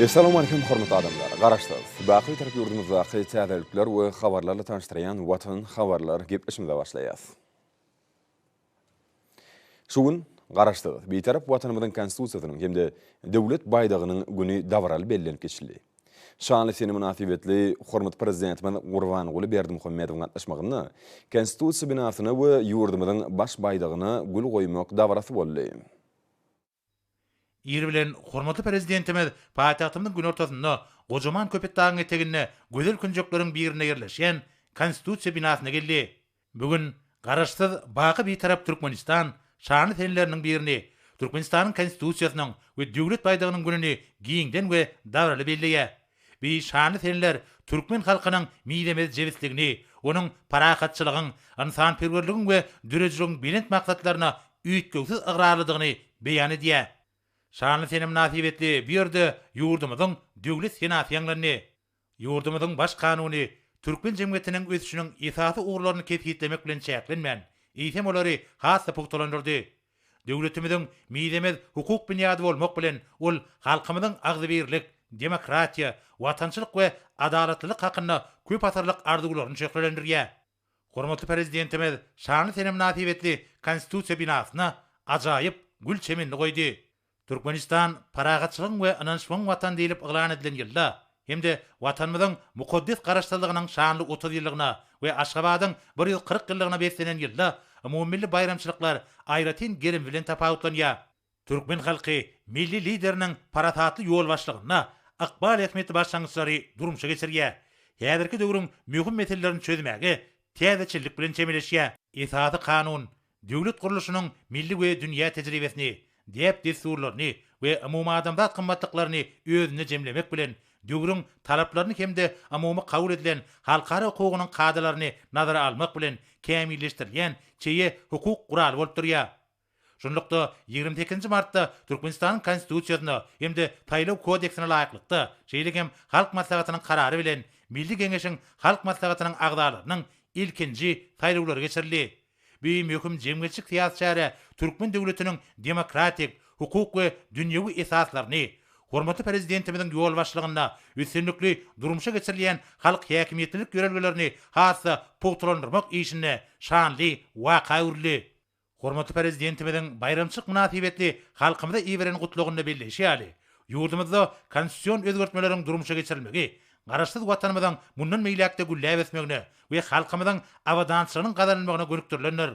Essalamualeýkum hormatly adamlar! Garaşsyz, baky Bitarap ýurdumyzdaky täzelikler we habarlarla tanyşdyrýan Watan habarlar gepleşimize başlaýas. Şu gün Garaşsyz, Bitarap Watanymyzyň Konstitusiýasynyň hem-de Döwlet baýdagynyň güni dabaraly bellenip geçildi. Şanly sene mynasybetli hormatly Prezidentimiz Gurbanguly Berdimuhamedowyň gatnaşmagynda Konstitusiýa binasyna we ýurdumyzyň Baş baýdagyna gül goýmak dabarasy boldy. Ir bilen hormatly Prezidentimiz paýtagtymyzyň günortasynda, gojaman Köpetdagyň eteginde gözel künjekleriň birinde ýerleşýän Konstitusiýa binasyna geldi. Bu gün Garaşsyz, baky Bitarap Türkmenistan şanly senleriniň birini, Türkmenistanyň Konstitusiýasynyň we Döwlet baýdagynyň gününi giňden we dabaraly belleýär. Bi şanly senler türkmen halkynyň mizemez jebisligini, onuň parahatçylygyň, ynsanperwerligiň we döredijiligiň belent maksatlaryna üýtgewsiz ygrarlydygyny beýan edýär. Şanly sene mynasybetli bu ýerde ýurdumyzyň Döwlet senasy ýaňlandy. Ýurdumyzyň Baş Kanuny türkmen jemgyýetiniň ösüşiniň esasy ugurlaryny kesgitlemek bilen çäklenmän, eýsem olary has-da pugtalandyrdy. Döwletimiziň mizemez hukuk binýady bolmak bilen, ol halkymyzyň agzybirlik, demokratiýa, watançylyk we adalatlylyk hakynda köp asyrlyk arzuwlaryny şöhlelendirýär. Hormatly Prezidentimiz şanly sene mynasybetli Konstitusiýa binasyna ajaýyp gül çemenini goýdy. Türkmenistan parahatçylygyň we ynanyşmagyň Watany diýlip yglan edilen ýylda hem-de Watanymyzyň mukaddes Garaşsyzlygynyň şanly otuz ýyllygyna we Aşgabadyň bir ýüz kyrk ýyllygyna beslenen ýylda umumymilli baýramçylyklar aýratyn gerim bilen tapawutlanýar. Türkmen halky Milli Lideriniň parasatly ýolbaşçylygynda ykbal ähmiýetli başlangyçlary durmuşa geçirýär, häzirki döwrüň möhüm meselelerini çözmäge täzeçillik bilen çemeleşýär. Esasy Kanun, Döwlet gurluşynyň milli we dünýä tejribesini, däp-dessurlaryny we umumadamzat gymmatlyklaryny özünde jemlemek bilen, döwrüň talaplaryny hem-de umumy kabul edilen halkara hukugynyň kadalaryny nazara almak bilen kämilleşdirilýän çeýe hukuk guraly bolup durýar. Şunlukda, ýigrimi sekizinji martda Türkmenistanyň Konstitusiýasyna hem-de Saýlaw kodeksine laýyklykda, şeýle hem Halk Maslahatynyň karary bilen Milli Geňeşiň Halk Maslahatynyň agzalarynyň ilkinji saýlawlary geçirildi. Bu möhüm jemgyýetçilik-syýasy çäre türkmen döwletiniň demokratik, hukuk we dünýewi esaslaryny, hormatly Prezidentimiziň ýolbaşçylygynda üstünlikli durmuşa geçirilýän halk häkimiýetlilik ýörelgelerini has-da pugtalandyrmak işinde şanly waka öwrüldi. Hormatly Prezidentimiziň baýramçylyk mynasybetli halkymyza iberen Gutlagynda belleýşi ýaly, ýurdumyzda konstitusion özgertmeleriň durmuşa geçirilmegi Garaşsyz Watanymyzyň mundan beýläk-de gülläp ösmegine we halkymyzyň abadançylygynyň gazanylmagyna gönükdirilendir.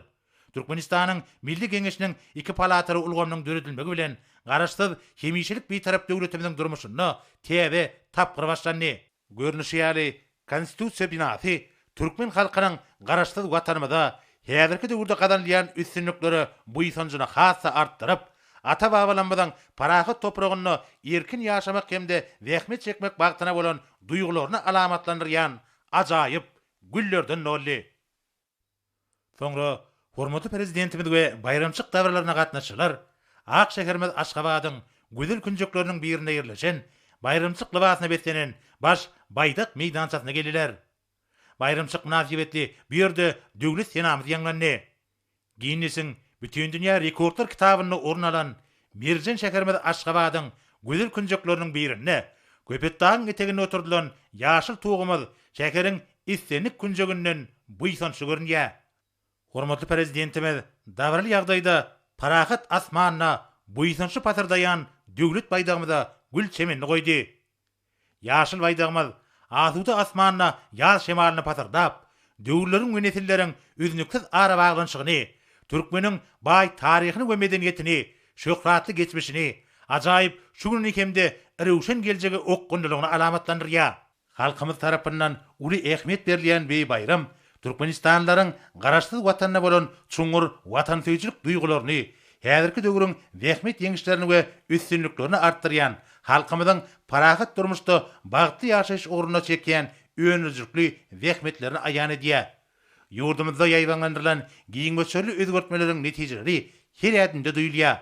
Türkmenistanyň Milli Geňeşiniň iki palataly ulgamynyň döredilmegi bilen, Garaşsyz, hemişelik Bitarap döwletimiziň durmuşynda täze tapgyr başlandy. Görnüşi ýaly, Konstitusiýa binasy Türkmen halkynyň Garaşsyz Watanymyzda häzirki döwürde gazanylýan üstünliklere buýsanjyny has-da artdyryp, ata-babalarymyzyň parahat topragynda erkin ýaşamak hem-de zähmet çekmek bagtyna bolan duýgularyny alamatlandyrýan ajaýyp güllerden doldy. Soňra hormatly Prezidentimiz we baýramçyk dabaralarna gatnaşyjylar ak şäherimiz Aşgabadyň gözel künjekleriniň birinde ýerleşen baýramçyk lybasyna beslenen Baş Baýdak meýdançasyna geldiler. Baýramçyk mynasybetli bu ýerde Döwlet senamyz ýaňlandy. Ginnesiň Bütindünýä rekordlar kitabynda orun alan Merjen şäherimiz Aşgabadyň gözel künjekleriniň birinde, Köpetdagyň eteginde oturdylan ýaşyl tugumyz şäheriň islendik künjeginden buýsançly görünýär. Hormatly Prezidentimiz dabaraly ýagdaýda parahat asmanyna buýsançly pasyrdaýan Döwlet baýdagymyza gül çemenini goýdy. Ýaşyl Baýdagymyz asuda asmanda ýaz şemalyny pasyrdap, döwürleriň we nesilleriň üznüksiz arabaglanyşygyny, türkmeniň baý taryhyny we medeniýetini, şöhratly geçmişini, ajaýyp şu gününi hem-de röwşen geljegi okgunlylygyny alamatlandyrýar. Halkymyz tarapyndan uly ähmiýet berilýän beý baýram Türkmenistanlylaryň Garaşsyz Watanyna bolan çuňňur watansöýüjilik duýgularyny, häzirki döwrüň zähmet ýeňişlerini we üstünliklerini artdyrýan, halkymyzyň parahat durmuşda bagtly ýaşaýyş ugrunda çekýän öndürijilikli zähmetlerini aýan edýär. Ýurdumyzda ýaýbaňlandyrylan giň möçberli özgertmeleriň netijeleri her ädimde duýulýar.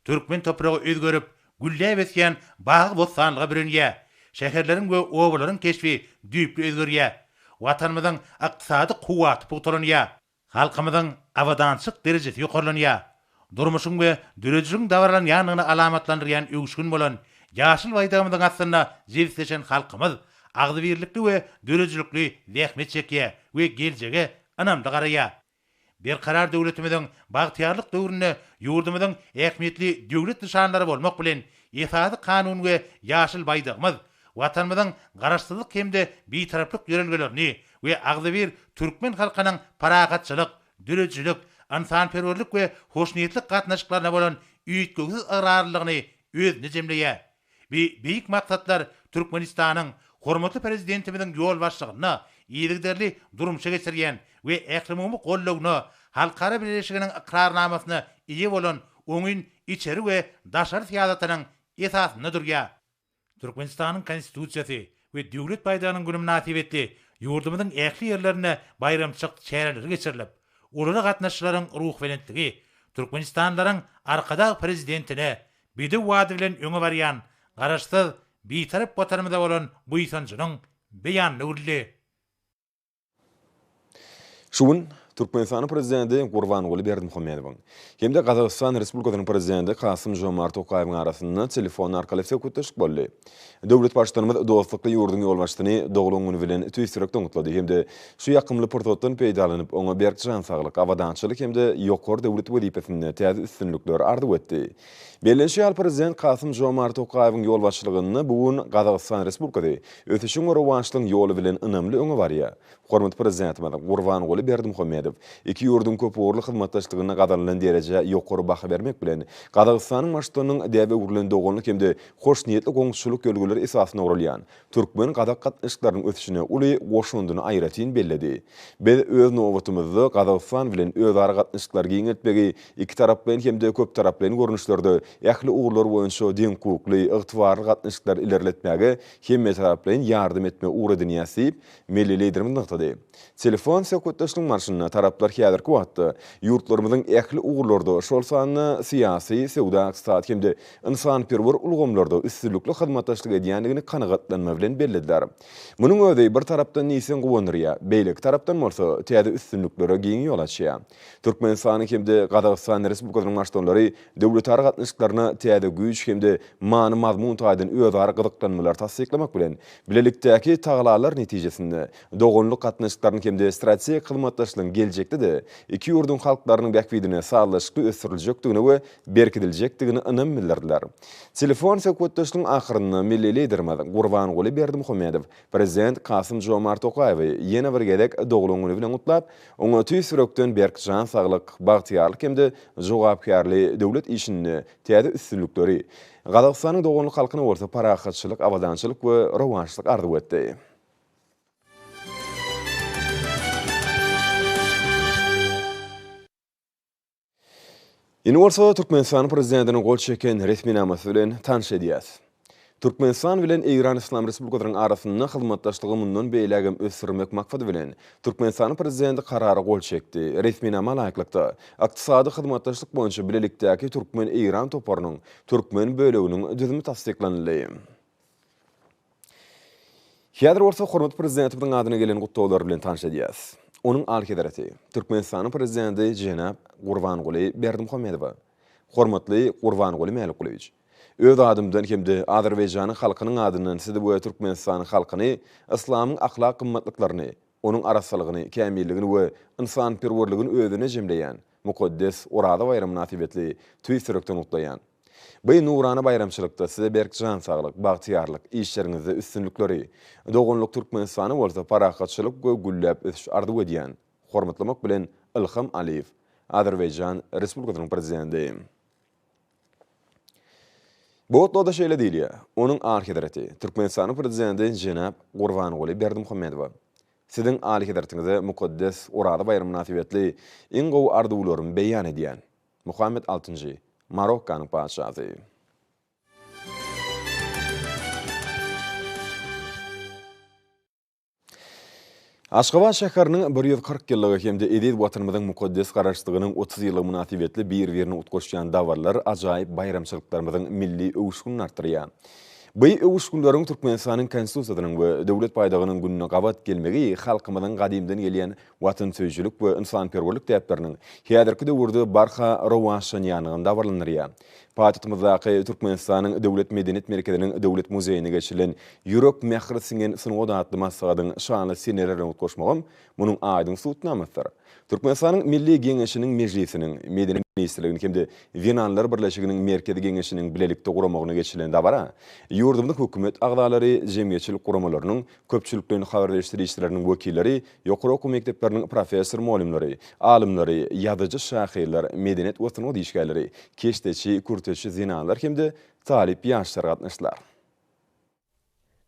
Türkmen topragy özgerip, gülläp ösýän bagy-bossanlyga bürenýär. Şäherleriň we obalaryň keşbi düýpli özgerýär. Watanymyzyň ykdysady kuwwaty pugtalanýar. Halkymyzyň abadançylyk derejesi ýokarlanýar. Durmuşyň we döredijiligiň dabaralanýandygyny alamatlandyrýan öwüşgin bolan ýaşyl Baýdagymyzyň astynda jebisleşen halkymyz agzybirlikli we döredijilikli zähmet çekýär we geljege ynamly garaýar. Berkarar döwletimiziň bagtyýarlyk döwründe ýurdumyzyň ähmiýetli döwlet nyşanlary bolmak bilen, Esasy Kanun we ýaşyl Baýdagymyz Watanymyzyň Garaşsyzlyk hem-de Bitaraplyk ýörelgelerini we agzybir türkmen halkynyň parahatçylyk, döredijilik, ynsanperwerlik we hoşniýetlik gatnaşyklaryna bolan üýtgewsiz ygrarlylygyny özünde jemleýär. Bu beýik maksatlar Türkmenistanyň Hormatly Prezidentimiziň ýolbaşçylygynda yzygiderli durmuşa geçirýän we ählumumy goldawyna, halkara bileleşiginiň ykrarnamasyna eýe bolan oňyn içeri we daşary syýasatynyň esasynda durýar. Türkmenistanyň Konstitusiýasy we Döwlet baýdagynyň güni mynasybetli ýurdumyzyň ähli ýerlerinde baýramçyk çäreleri geçirilip, olara gatnaşyjylaryň ruhbelentligi türkmenistanlylaryň Arkadag Prezidentine bedew ady bilen öňe barýan Garaşsyz, Bitarap Watanymyza bolan buýsanjynyň beýanyny güldi. Şu gün Türkmenistanyň Prezidenti Gurbanguly Berdimuhamedowyň hem-de Gazagystan Respublikasynyň Prezidenti Kasym-Žomart Tokaýewiň arasynda telefon arkaly söhbetdeşlik boldy. Döwlet Baştutanymyz dostlukly ýurduň ýolbaşçysyny doglan güni bilen tüýs ýürekden gutlady hem-de şu ýakymly pursatdan peýdalanyp, oňa berk jan saglyk, abadançylyk hem-de ýokary döwlet wezipesinde täze üstünlikler arzuw etdi. Bellenişi ýaly, Prezident Kasym-Žomart Tokaýewiň ýolbaşçylygynda bu gün Gazagystan Respublikasy ösüşiň we rowaçlygyň ýoly bilen ynamly öňe barýar. Hormatly Prezidentimiz Gurbanguly Berdimuhamedow iki ýurduň köpugurly hyzmatdaşlygynda gazanylan derejä ýokary baha bermek bilen, Gazagystanyň Baştutanynyň däbe öwrülen doganlyk hem-de hoşniýetli goňşuçylyk ýörelgeleri esasynda guralýan türkmen-gazak gatnaşyklarynyň ösüşine uly goşandyny aýratyn belledi. Biz, öz nobatymyzda, Gazagystan bilen özara gatnaşyklary giňeltmegi ikitaraplaýyn hem-de köptaraplaýyn görnüşlerde ähli ugurlar boýunça deňhukukly, ygtybarly gatnaşyklary ilerletmäge hemmetaraplaýyn ýardam etmegi ugur edinýäris diýip, milli Liderimiz nygtady. Telefon söhbetdeşligiň barşynda taraplar häzirki wagtda ýurtlarymyzyň ähli ugurlarda, şol sanda syýasy, söwda-ykdysady hem-de ynsanperwer ulgamlarda üstünlikli hyzmatdaşlyk edýändigini kanagatlanma bilen bellediler. Munuň özi bir tarapdan diýseň guwandyrýar, beýleki tarapdan bolsa täze üstünliklere giň ýol açýar. Türkmenistanyň hem-de Gazagystan Respublikasynyň Baştutanlary döwletara gatnaşyklaryna täze güýç hem-de many-mazmun taýdan özara gyzyklanmalary tassyklamak bilen, bilelikdäki tagalalar netijesinde doganlyk gatnaşyklarynyň hem-de strategik hyzmatdaşlygyň geljekde-de iki ýurduň halklarynyň bähbidine sazlaşykly ösdüriljekdigine we berkidiljekdigine ynam bildirdiler. Telefon söhbetdeşligiň ahyrynda milli Liderimiz Gurbanguly Berdimuhamedow Prezident Kasym-Žomart Tokaýewi ýene bir gezek doglan güni bilen gutlap, oňa tüýs ýürekden berk jan saglyk, bagtyýarlyk hem-de jogapkärli döwlet işinde täze üstünlikleri, Gazagystanyň doganlyk halkyna bolsa parahatçylyk, abadançylyk we rowaçlyk arzuw etdi. Indi bolsa Türkmenistanyň prezidentiniň gol çeken resminamasy bilen tanyş edýäs. Türkmenistan bilen Eýran Yslam Respublikasynyň arasynda hyzmatdaşlygy mundan beýläk hem ösdürmek maksady bilen, Türkmenistanyň prezidenti Karara gol çekdi. Resminama laýyklykda, Ykdysady hyzmatdaşlyk boýunça bilelikdäki türkmen-eýran toparynyň türkmen böleginiň düzümi tassyklanyldy. Häzir bolsa hormatly Prezidentimiziň adyna gelen gutlaglar bilen tanyş edýäris. Onuň Alyhezreti, Türkmenistanyň Prezidenti jenap Gurbanguly Berdimuhamedowa, Hormatly Gurbanguly Mälikgulyýewiç! Öz adymdan hem-de Azerbaýjanyň halkynyň adyndan Sizi we Türkmenistanyň halkyny yslamyň ahlak gymmatlyklaryny, onuň arassalygyny, kämilligini we ynsanperwerligini özüne jemleýän mukaddes Oraza baýramy mynasybetli tüýs ýürekden gutlaýan. Bu nurana baýramçylykda size berk jan saglyk, bagtyýarlyk, işleriňizde üstünlikleri, doganlyk Türkmenistana bolsa parahatçylyk we gülläp ösüş arzuw edýän. Hormatlamak bilen, Ilham Aliýew, Azerbaýjan Respublikasynyň Prezidenti. Bu otluga-da şeýle diýilýär, Onuň Alyhezreti, Türkmenistanyň Prezidenti jenap Gurbanguly Berdimuhamedowa, Siziň Alyhezretiňize mukaddes Oraza baýramy mynasybetli iň gowy arzuwlarymy beýan edýän. Muhammet altynjy, Marokkanyň patyşasy. Aşgabat şäheriniň bir ýüz kyrk ýyllygy hem-de eziz Watanymyzyň mukaddes Garaşsyzlygynyň otuz ýyllygy mynasybetli bir-birini utgaşýan dabaralar ajaýyp baýramçylyklarymyzyň milli öwüşginini artdyrýar. Bu öwüşginleriň Türkmenistanyň Konstitusiýasynyň we Döwlet baýdagynyň gününe gabat gelmegi halkymyzyň gadymdan gelýän watansöýüjilik we ynsanperwerlik däpleriniň häzirki döwürde barha rowaçlanýandygyny dabaralandyrýar. Paýtagtymyzdaky Türkmenistanyň Döwlet medeniýet merkeziniň Döwlet muzeýinde geçirilen Ýürek mähir siňen sungat atly maslahatyň şanly senelerine utgaşmagam munuň aýdyň subutnamasydyr. Türkmenistanyň Milli Geňeşiniň Mejlisiniň, Medeniýet ministrliginiň hem-de Zenanlar birleşiginiň Merkezi Geňeşiniň bilelikde guramagyna geçirilen dabara ýurdumyzyň hökümet agzalary, jemgyýetçilik guramalarynyň, köpçülikleýin habar beriş-serişdeleriniň wekilleri, ýokary okuw mekdepleriniň professor-mugallymlary, alymlary, ýazyjy-şahyrlar, medeniýet we sungat işgärleri, keşdeçi, kürteçi zenanlar hem-de talyp ýaşlar gatnaşdylar.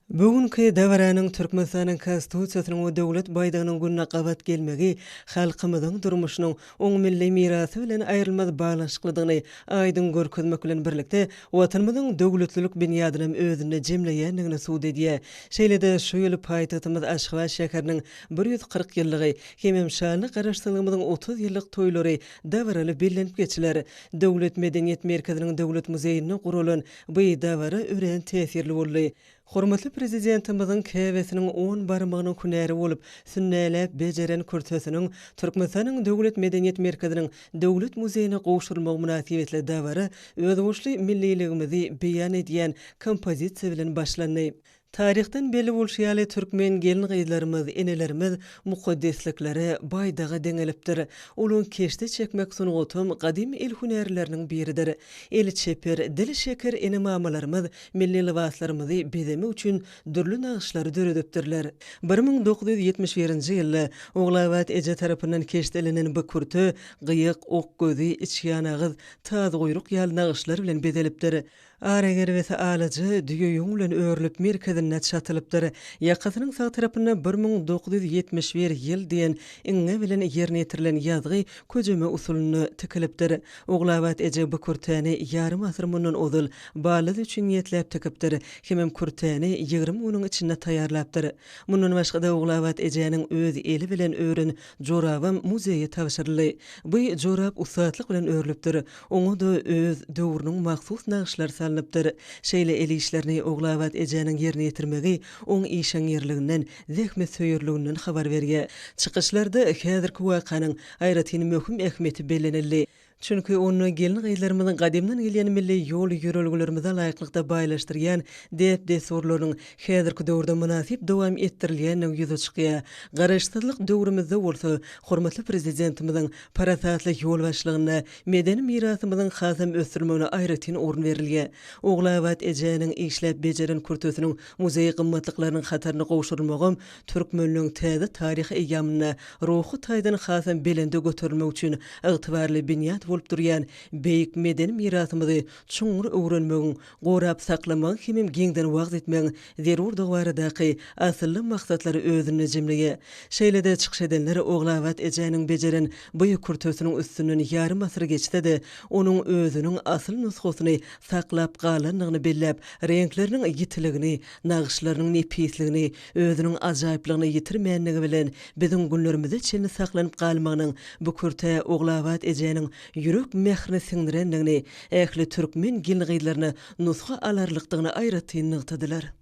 Bu günki dabaranyň Türkmenistanyň Konstitusiýasynyň we Döwlet baýdagynyň gününe gabat gelmegi halkymyzyň durmuşynyň onuň milli mirasy bilen aýrylmaz baglanyşyklydygyny aýdyň görkezmek bilen birlikde, Watanymyzyň döwletlilik binýadynam özünde jemleýändigini subut edýär. Şeýle-de, şu ýyl paýtagtymyz Aşgabat şäheriniň bir ýüz kyrk ýyllygy hemem şanly Garaşsyzlygymyzyň otuz ýyllyk toýlary dabaraly bellenip geçiler. Döwlet medeniýet merkeziniň Döwlet muzeýinde guralan bu dabara örän täsirli boldy. Hormatly Prezidentimiziň käbesiniň on barmagynyň hünäri bolup, sünnäläp bejeren kürsesiniň Türkmenistanyň Döwlet medeniýet merkeziniň Döwlet muzeýine gowşurylmagy mynasybetli dabara özboluşly milliligimizi beýan edýän kompozisiýa bilen başlandy. Taryhdan belli bolşy ýaly, türkmen gelin-gyzlarymyz, enelerimiz mukaddesliklere, baýdaga deňelipdir. Olaň keşde çekmek sungatam gadymy el hünärleriniň biridir. Eli çeper, dili şeker ene-mamalarymyz Milli lybaslarymyzy bezemek üçin dürli nagyşlary döredipdirler. Bir müň dokuz ýüz ýetmiş birinji ýylda Ogulabat eje tarapyndan keşdelenen bu kürte gyýyk, ok gözi, içýanagyz, tazguýruk ýaly nagyşlar bilen bezelipdir. Ara gergisi alaja, düýe ýüň bilen örülip, merkezinde çatylypdyr. Ýakasynyň sag tarapynda bir müň dokuz ýüz ýetmiş bir ýyl diýen iňňe bilen ýerine ýetirilen ýazgy köjeme usulynda tikilipdir. Ogulabat eje bu kürtäni ýarym asyr mundan ozal Ballaz üçin niýetläp tikipdir, hemem kürtäni ýigrimi günüň içinde taýýarlapdyr. Mundan başga-da Ogulabat ejäniň öz eli bilen ören jorabam muzeýe tabşyryldy. Bu jorap ussatlyk bilen örlüpdir, oňa-da öz döwrüniň mahsus nagyşlary salnypdyr. Şeýle el işlerini Ogulabat ejäniň ýerine ýetirmegi oň işeňňirliginden zähmetsöýerliginden habar berýär. Çykyşlarda häzirki wakanyň aýratyn möhüm ähmiýeti bellenildi. Çünki onda gelin-gyzlarymyzyň gadymdan gelýän milli ýol-ýörelgelerimize laýyklykda baýlaşdyrýan däp-dessurlarynyň häzirki döwürde mynasyp dowam etdirilýändigi ýüze çykýar. Garaşsyzlyk döwrümizde bolsa hormatly Prezidentimiziň parasatly ýolbaşçylygynda medeni mirasymyzyň hasam ösdürilmegine aýratyn orun berilýär. Ogulabat ejäniň işläp bejeren kürtesiniň Muzeý gymmatlyklarynyň hataryna gowşurylmagam türkmenligiň täze taryhy eýýamynda ruhy taýdan hasam belende göterilmegi üçin ygtybarly binýat bolup durýan beýik medeni mirasymyzy çuňňur öwrenmegiň, gorap saklamagyň hemem giňden wagyz etmegiň zerurdygy baradaky asylly maksatlary özünde jemleýär. Şeýle-de çykyş edenler Ogulabat ejäniň bejeren bu ýükürtisiniň üstünden ýarym asyr geçse-de, onuň özüniň asyl nusgasyny saklap galandygyny belläp, reňkleriniň ýitiligini, nagyşlarynyň nepisligini, özüniň ajaýyplygyny ýitirmändigi bilen, biziň günlerimize çenli saklanyp galmagynyň bu kürtä Ogulabat ejäniň ýürek mährini siňdirendigini, ähli türkmen gelin-gyzlaryna nusga alarlykdygyny aýratyn nygtadylar.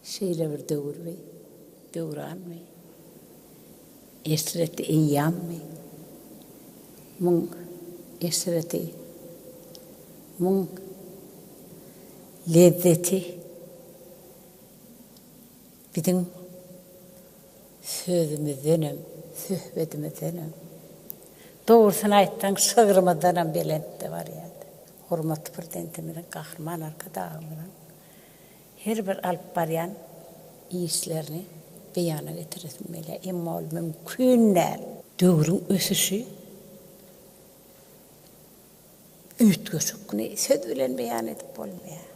Şeýle bir döwürmi, döwranmy, Eşreti eýýammy, muň eşreti, muň lezzeti biziň sözümizdenem, söhbedimizdenem, dogrusyny aýtsaň, şygrymyzdanam belentde barýar. Hormatly Prezidentimiziň, Gahryman Arkadagymyzyň Her bir alyp barýan işlerini beýana getiresim gelýär, emma ol mümkin däl. Döwrüň ösüşi üýtgeşik. Muny söz bilen beýan edip bolmaýar.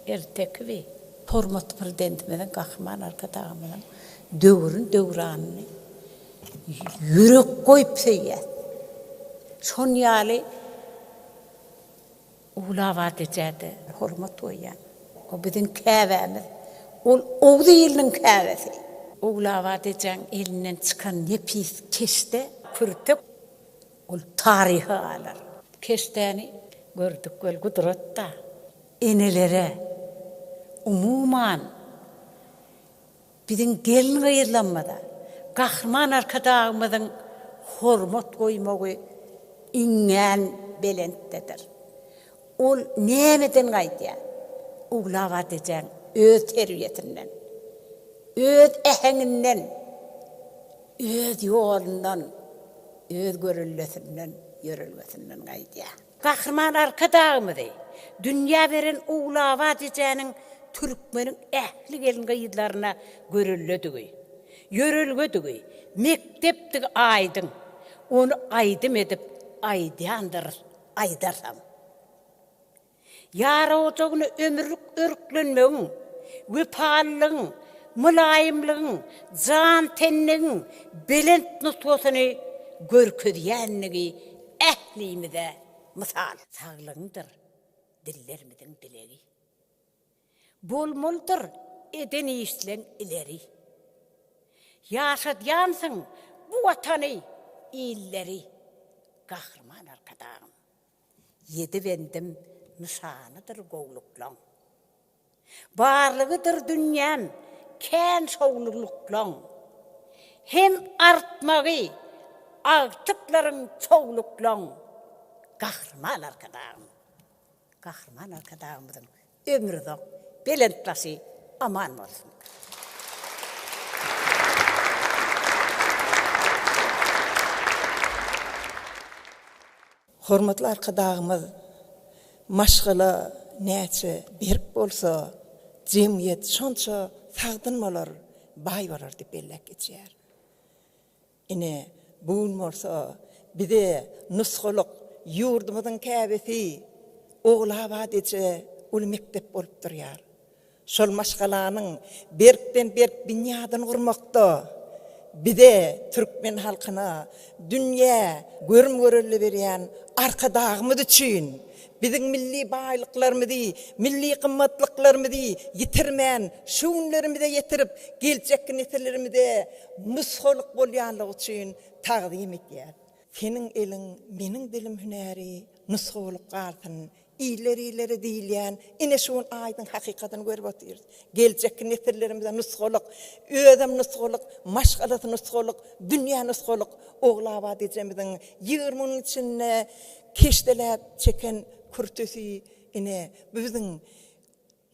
Erteki bi. Hormatly Prezidentimiziň, Gahryman Arkadagymyzyň döwrüni, döwranyny ýürek goýup söýýäs. Şon ýaly Ogly Abat ejä-de hormat goýýan. O biziň käbämiz. Ol Oguz iliniň käbesi. Ogly Abat ejäň elinden çykan nepis keşde, kürtek, ol taryha galar. Bu keşdäni gördük weli gudrat-da, enelere, umuman, Biziň gelin-gyzlarymyza Gahryman Arkadagymyzyň hormat goýmagy iňňän belentdedir. Ol nämeden gaýdýar? Uglab atejäň öz terbiýesinden, öz äheňinden, öz ýolundan, öz görellesinden, ýörelgesinden gaýdýar. Gahryman Arkadagymyzy dünýä beren Ogulabat ejäniň türkmeniň ähli gelin-gyzlaryna görelledigi, ýörelgedigi, mekdepdigi aýdyň. Ony aýdym edip aýdýandyrys, aýdarsam. Ýar ojagyna ömürlik örklenmegiň, wepalylygyň, mylaýymlygyň, jan-tenligiň belent nusgasyny görkezýändigi Ählimize mysal. Saglygyňdyr dillerimiziň dilegi. Bolmalydyr eden işleň ileri. Ýaşadýansyň bu Watany, illeri. Gahryman Arkadagym, ýedi bendim nyşanydyr gowulyklaň. Barlygydyr dünýäm kän şowly luklaň. Hem artmagy agtyklaryň çow luklaň. Gahryman Arkadagym. Gahryman Arkadagymyzyň ömri uzak, belent başy aman bolsun. Hormatly Arkadagymyz, Maşgala näçe berk bolsa, jemgyýet şonça sagdyn bolar, baý bolar diýip belläp geçýär. Ine, bu gün bolsa bize nusgalyk ýurdumyzyň käbesi Ogulabat eje uly mekdep bolup durýar. Şol maşgalanyň berkden-berk binýadyny gurmakda bize, türkmen halkyna dünýä görüm-görelde berýän Arkadagymyz üçin biziň milli baýlyklarymyzy, milli gymmatlyklarymyzy ýitirmän, şu günlerimize ýetirip, geljekki nesillerimize nusgalyk bolýanlygy üçin tagzym edýäris. Seniň eliň, meniň dilim hünäri nusgalyk galsyn, Iller ileri diýilýän ine şu gün aýdyň hakykatyny görüp otyrys. Geljekki nesillerimize nusgalyk, özem nusgalyk, maşgalasy nusgalyk, dünýä nusgalyk Ogulabat ejemiziň ýigrimi günüň içinde keşdeläp çeken kürtesi ine bu biziň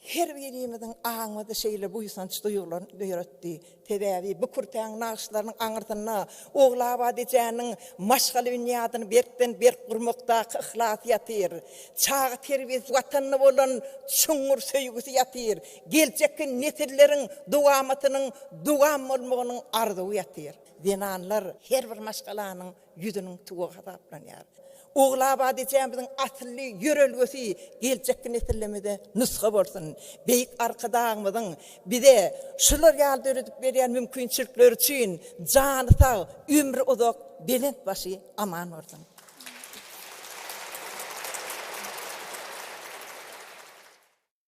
Her birimiziň aňymyzda şeýle buýsanç duýgularyny döretdi. Sebäbi bu kürtäň nagyşlarynyň aňyrsynda Ogulabat ejäniň maşgala binýadyny berkden-berk gurmakdaky yhlasy ýatyr. Çaga terbiýesi, Watanyna bolan çuňňur söýgüsi ýatyr. Geljekki nesilleriň dowamatynyň dowam bolmagynyň arzuwy ýatyr. Zenanlar her bir maşgalanyň ýüzüniň tugy hasaplanýar. Ogulabad ejämiziň asylly ýörelgesi geljekki nesillemede nusga bolsun. Beýik Arkadagymyzyň bize şular ýaly döredip berýän mümkinçilikleri üçin jany sag, ömri uzak, belent başy aman bolsun!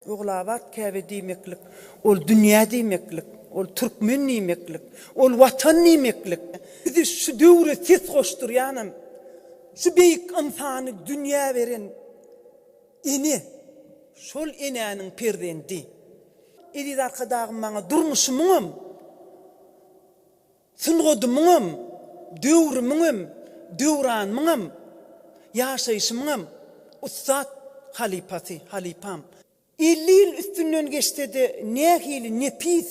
Ogulabat Käbe diýmeklik, ol dünýä diýmeklik, ol türkmen diýmeklik, ol Watan diýmeklik. Bizi şu döwre ses goşdurýanam şu beýik ynsany dünýä beren ene, şol enäniň perzendi. Eziz Arkadagym maňa durmuşymyňam. Sungadymyňam, döwrümiňem, döwranymyňam, ýaşaýşymyňam ussat halypasy, halypam. Elli ýyl üstünden geçse-de nähili nepis,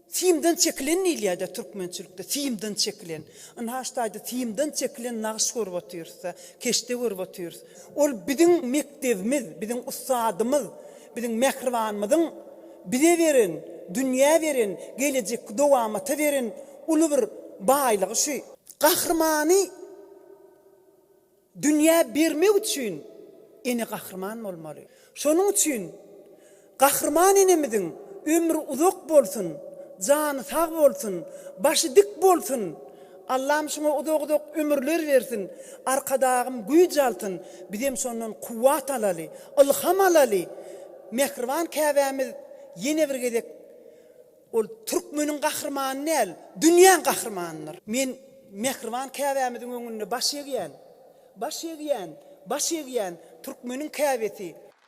simden çekilen diýilýär-dä türkmençilikde, simden çekilen. Ynha şu taýda simden çekilen nagyş görüp otyrys-da, keşde görüp otyrys. Ol biziň mekdebimiz, biziň ussadymyz, biziň mähribanymyzyň bize beren, dünýä beren, gelejekki dowamata beren uly bir baýlygy şu. Gahrymany dünýä bermek üçin ene gahryman bolmaly. Şonuň üçin Gahryman enemiziň ömri uzak bolsun, jany sag bolsun, başy dik bolsun! Allam şuňa uzak uzak ömürler bersin, Arkadagym güýç alsyn, bizem şondan kuwwat alaly, ylham alaly! Mähriban Käbämiz ýene bir gezek ol türkmeniň gahrymany däl, dünýäň gahrymanydyr. Men Mähriban Käbämiziň öňünde baş egýän, baş egýän, baş egýän, türkmeniň Käbesi!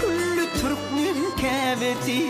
Külli türkmen käbesi.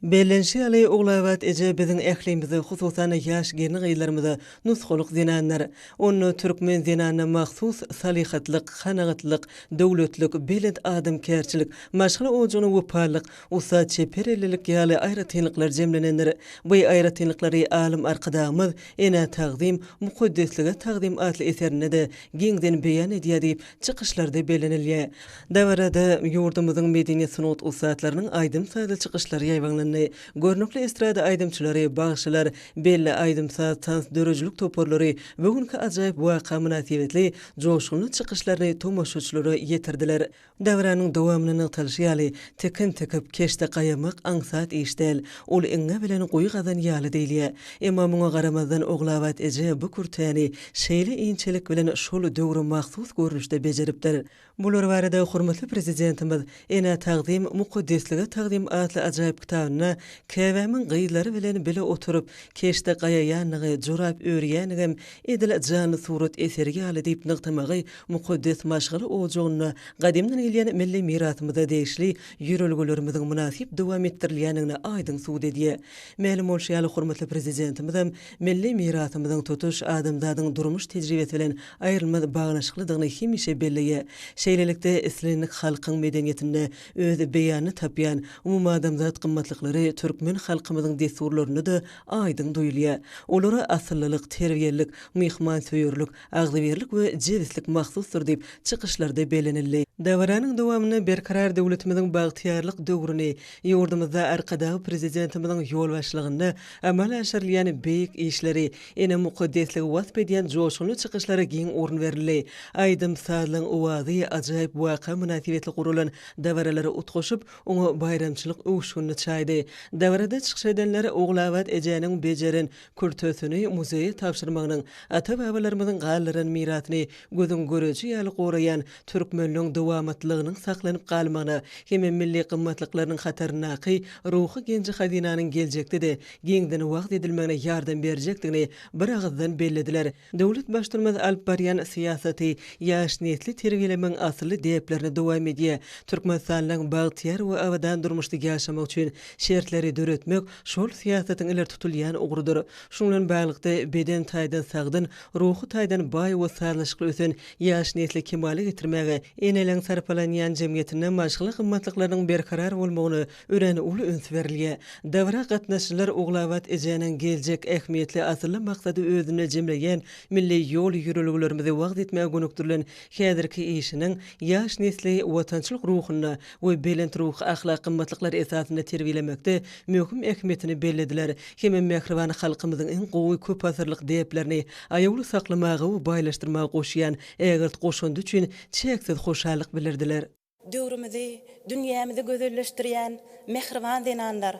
Bellenşi ýaly, Ogulabat eje biziň ählimize, hususan-da, ýaş gelin-gyzlarymyza nusgalyk zenandyr. Onda türkmen zenanyna mahsus salyhatlyk, kanagatlyk, döwletlik, belent adamkärçilik, maşgala ojagyna wepalylyk, ussat çeper ellilik ýaly aýratynlyklar jemlenendir. Bu aýratynlyklary alym Arkadagymyz Enä tagzym, mukaddeslige tagzym atly eserinde-de giňden beýan edýär diýip, çykyşlarda bellenilýär. Dabarada ýurdumyzyň medeniýet-sungat ussatlarynyň aýdym-sazly çykyşlary ýaýbaňlandy. Görnükli estrada aýdymçylary, bagşylar, belli aýdym-saz, tans döredijilik toparlary bu günki ajaýyp waka mynasybetli joşgunly çykyşlaryny tomaşaçylara ýetirdiler. Döwranyň dowamynda nygtalyşy ýaly, tikin tikip, keşde gaýamak aňsat iş däl. Ol iňňe bilen guýy gazan ýaly diýilýär. Emma muňa garamazdan, Ogulabat eje bu kürtäni şeýle inçelik bilen şol döwre mahsus görnüşde bejeripdir. Bular barada hormatly Prezidentimiz Enä tagzym, mukaddeslige tagzym atly ajaýyp kitabynda Käbämiň gyzlary bilen bile oturyp, keşde gaýaýandygy, jorap örýändigem Edil janly surat eseri ýaly diýip nygtamagy mukaddes maşgala ojagynda gadymdan gelýän milli mirasymyza degişli ýörelgelerimiziň mynasyp dowam etdirilýändigini aýdyň subut edýär. Mälim bolşy ýaly, hormatly Prezidentimizem milli mirasymyzyň tutuş adamzadyň durmuş tejribesi bilen aýrylmaz baglanyşyklydygyny hemişe belleýär. Şeýlelikde, islendik halkyň medeniýetinde öz beýanyny tapýan umumadamzat gymmatlyklary türkmen halkymyzyň dessurlarynda-da aýdyň duýulýar. Olara asyllylyk, terbiýelilik, myhmansöýerlik, agzybirlik we jebislik mahsusdyr diýip, çykyşlarda bellenildi. Dabaranyň dowamynda Berkarar döwletimiziň bagtyýarlyk döwrüni, ýurdumyzda Arkadag Prezidentimiziň ýolbaşçylygynda amala aşyrylýan beýik işleri, ene mukaddesligi wasp edýän joşgunly çykyşlara giň orun berildi. Aýdym-sazlaryň owazy, ajaýyp waka mynasybetli guralan dabaralar utgaşyp, Oňa baýramçylyk öwüşginli çaýdy. Dabarada çykyş edenler Ogulabat ejäniň bejeren kürtesini muzeýe tabşyrmagynyň, ata-babalarymyzyň galdyran mirasyny gözüň göreji ýaly goraýan türkmenligiň dowamatlylygynyň saklanyp galmagyna hem-ä milli gymmatlyklarynyň hataryndaky ruhy genji-hazynanyň geljekde-de giňden wagyz edilmegine ýardam berjekdigini bir agyzdan bellediler. Döwlet Baştutanymyz alyp barýan syýasaty ýaş nesli terbiýelemegiň asylly däplerini dowam edýär. Türkmenistanyň bagtyýar we abadan durmuşda ýaşamagy üçin şertleri döretmek şol syýasatyň ileri tutulýan ugrudyr. Şunuň bilen baglylykda, beden taýdan sagdyn, ruhy taýdan baý we sazlaşykly ösen ýaş nesli kemala getirmäge, eneleň sarpalanýan jemgyýetinde maşgala gymmatlyklarynyň berkarar bolmagyny, örän uly üns berilýär. Dabara gatnaşyjylar Ogulabat ejäniň geljek ähmiýetli asylly maksady özünde jemleýän milli ýol-ýörelgelerimizi wagyz etmäge gönükdirilen häzirki işiniň ýaş nesli watançylyk ruhunda we belent ruhy-ahlak gymmatlyklar esasynda terbiýelemekde möhüm ähmiýetini bellediler hem mähriban halkymyzyň iň gowy köpasyrlyk däplerini aýawly saklamaga we baýlaşdyrmaga goşýan ägirt goşandy üçin çäksiz hoşallyk bildirdiler. Döwrümizi, dünýämizi gözelleşdirýän mähriban zenanlar!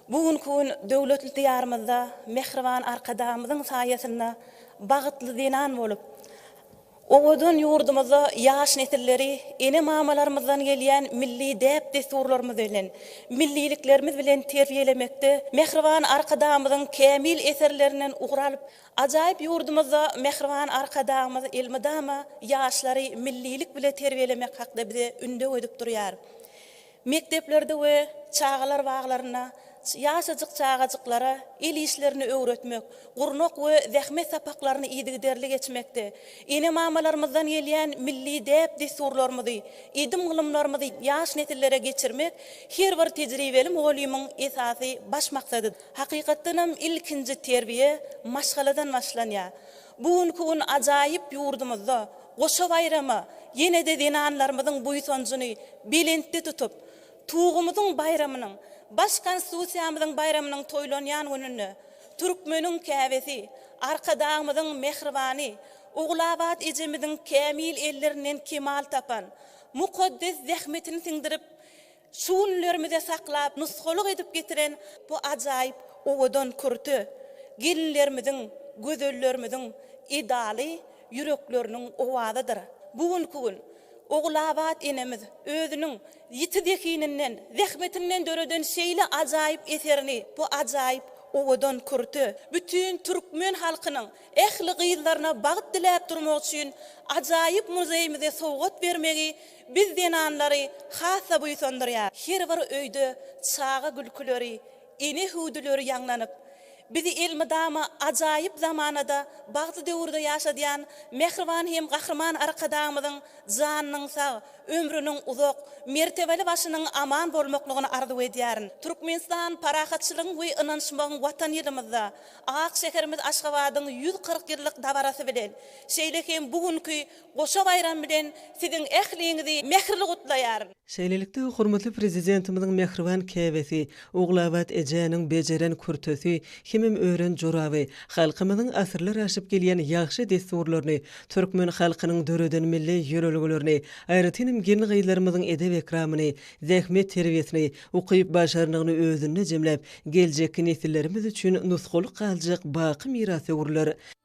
Bu günki gün döwletli Diýarymyzda mähriban Arkadagymyzyň saýasynda bagtly zenan bolup, owadan ýurdumyzda ýaş nesilleri ene-mamalarymyzdan gelýän milli däp-dessurlarymyz bilen, milliliklerimiz bilen terbiýelemekde mähriban Arkadagymyzyň kämil eserlerinden ugur alyp, Ajaýyp ýurdumyzda mähriban Arkadagymyz elmydama ýaşlary millilik bile terbiýelemek hakda bize ündew edip durýar. Mekdeplerde we çagalar baglarynda ýaşajyk çagajyklara el işlerini öwretmek, gurnak we zähmet sapaklaryny yzygiderli geçmekde, ene-mamalarymyzdan gelýän milli däp-dessurlarymyzy, edim-gylymlarymyzy ýaş nesillere geçirmek her bir tejribeli mugallymyň esasy baş maksadydyr. Hakykatdanam ilkinji terbiýe maşgaladan başlanýar. Bu günki gün ajaýyp ýurdumyzda goşa baýrama ýene-de zenanlarymyzyň buýsanjyny belentde tutup, Tugumyzyň baýramynyň, baş Konstitusiýamyzyň baýramynyň toýlanýan gününde türkmeniň käbesi, Arkadagymyzyň mähribany Ogulabat ejemiziň kämil ellerinden kemal tapan, mukaddes zähmetini siňdirip, Şu günlerimize saklap, nusgalyk edip getiren bu ajaýyp owadan kürte gelinlerimiziň, gözellerimiziň edaly ýürekleriniň owazydyr. Bu günki gün Ogulabat enemiz özüniň ýiti zehininden, zähmetinden döreden şeýle ajaýyp eserini, bu ajaýyp owadan kürte bütin türkmen halkynyň ähli gyzlaryna bagt diläp durmak üçin ajaýyp muzeýimize sowgat bermegi Biz zenanlary has-da buýsandyrýar. Her bir öýde çaga gülküleri, ene hüwdüleri ýaňlanyp, bizi elmydama ajaýyp zamanada, bagtly döwürde ýaşadýan mähriban hem Gahryman Arkadagymyzyň janynyň sag, ömrüniň uzak, mertebeli başynyň aman bolmaklygyny arzuw edýärin. Türkmenistan parahatçylygyň we ynanyşmagyň Watan ýylymyzda, ak şäherimiz Aşgabadyň ýüz kyrk ýyllyk dabarasy bilen, şeýle hem bu günki Goşa baýram bilen siziň ähliňizi mähirli gutlaýaryn. Şeýlelikde, hormatly Prezidentimiziň mähriban käbesi, Ogulabat ejäniň bejeren kürtesi hemem ören joraby, halkymyzyň asyrlar aşyp gelýän ýagşy dessurlaryny, türkmen halkynyň döreden milli ýörelgelerini, aýratynam gelin-gyzlarymyzyň edep-ekramyny, zähmet terbiýesini, ukyp-başarnygyny özünde jemläp, geljekki nesillerimiz üçin nusgalyk galjak baky mirasöwürler,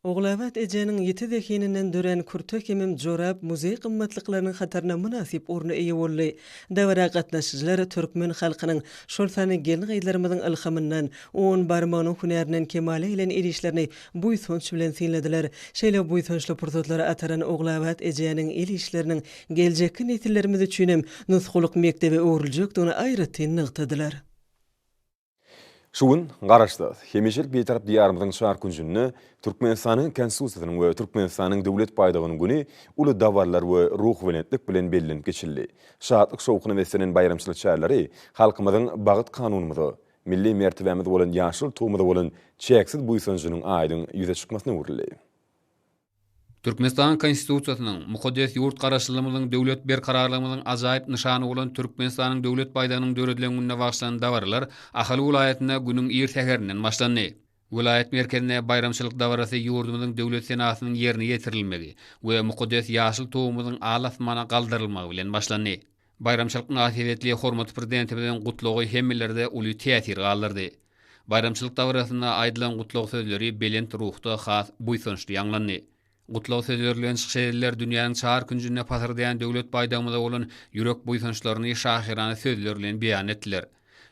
Ogulabat ejäniň ýiti zehininden dörän kürte hemem jorap muzeý gymmatlyklarynyň hataryna mynasyp orna eýe boldy. Dabara gatnaşyjylar türkmen halkynyň, şol sanda gelin-gyzlarymyzyň ylhamyndan, un barmagynyň hünärinden kemala gelen el işlerini buýsanç bilen synladylar. Şeýle buýsançly pursatlary ataran Ogulabat ejäniň el işleriniň geljekki nesillerimiz üçinem nusgalyk mekdebe öwrüljekdigini aýratyn nygtadylar. Şu gün Garaşsyz, hemişelik Bitarap Diýarymyzyň çar künjünde Türkmenistanyň Konstitusiýasynyň we Türkmenistanyň Döwlet baýdagynyň güni uly dabaralar we ruhubelentlik bilen bellenip geçildi. Şatlyk-şowhuna beslenen baýramçylyk çäreleri halkymyzyň Bagt Kanunymyza, milli mertebämiz bolan ýaşyl Tugumyza bolan çäksiz buýsanjynyň aýdyň ýüze çykmasyna öwrüldi. Türkmenistanyň Konstitusiýasynyň, mukaddes ýurt Garaşsyzlygymyzyň, döwlet berkararlygymyzyň ajaýyp nyşany bolan Türkmenistanyň Döwlet baýdagynyň döredilen gününe bagyşlanan dabaralar Ahal welaýatynda günüň ir säherinden başlandy. Welaýat merkezinde baýramçylyk dabarasy ýurdumyzyň Döwlet senasynyň ýerine ýetirilmegi we mukaddes ýaşyl Tugumyzyň al-asmana galdyrylmagy bilen başlandy. Baýramçylyk mynasybetli hormatly Prezidentimiziň Gutlagy hemmelerde uly täsir galdyrdy. Baýramçylyk dabarasynda aýdylan gutlag sözleri belent ruhda has buýsançly ýaňlandy. Gutlag sözleri bilen çykyş edenler dünýäniň çar künjünde pasyrdaýan Döwlet baýdagymyza bolan ýürek buýsançlaryny şahyrana sözler bilen beýan etdiler.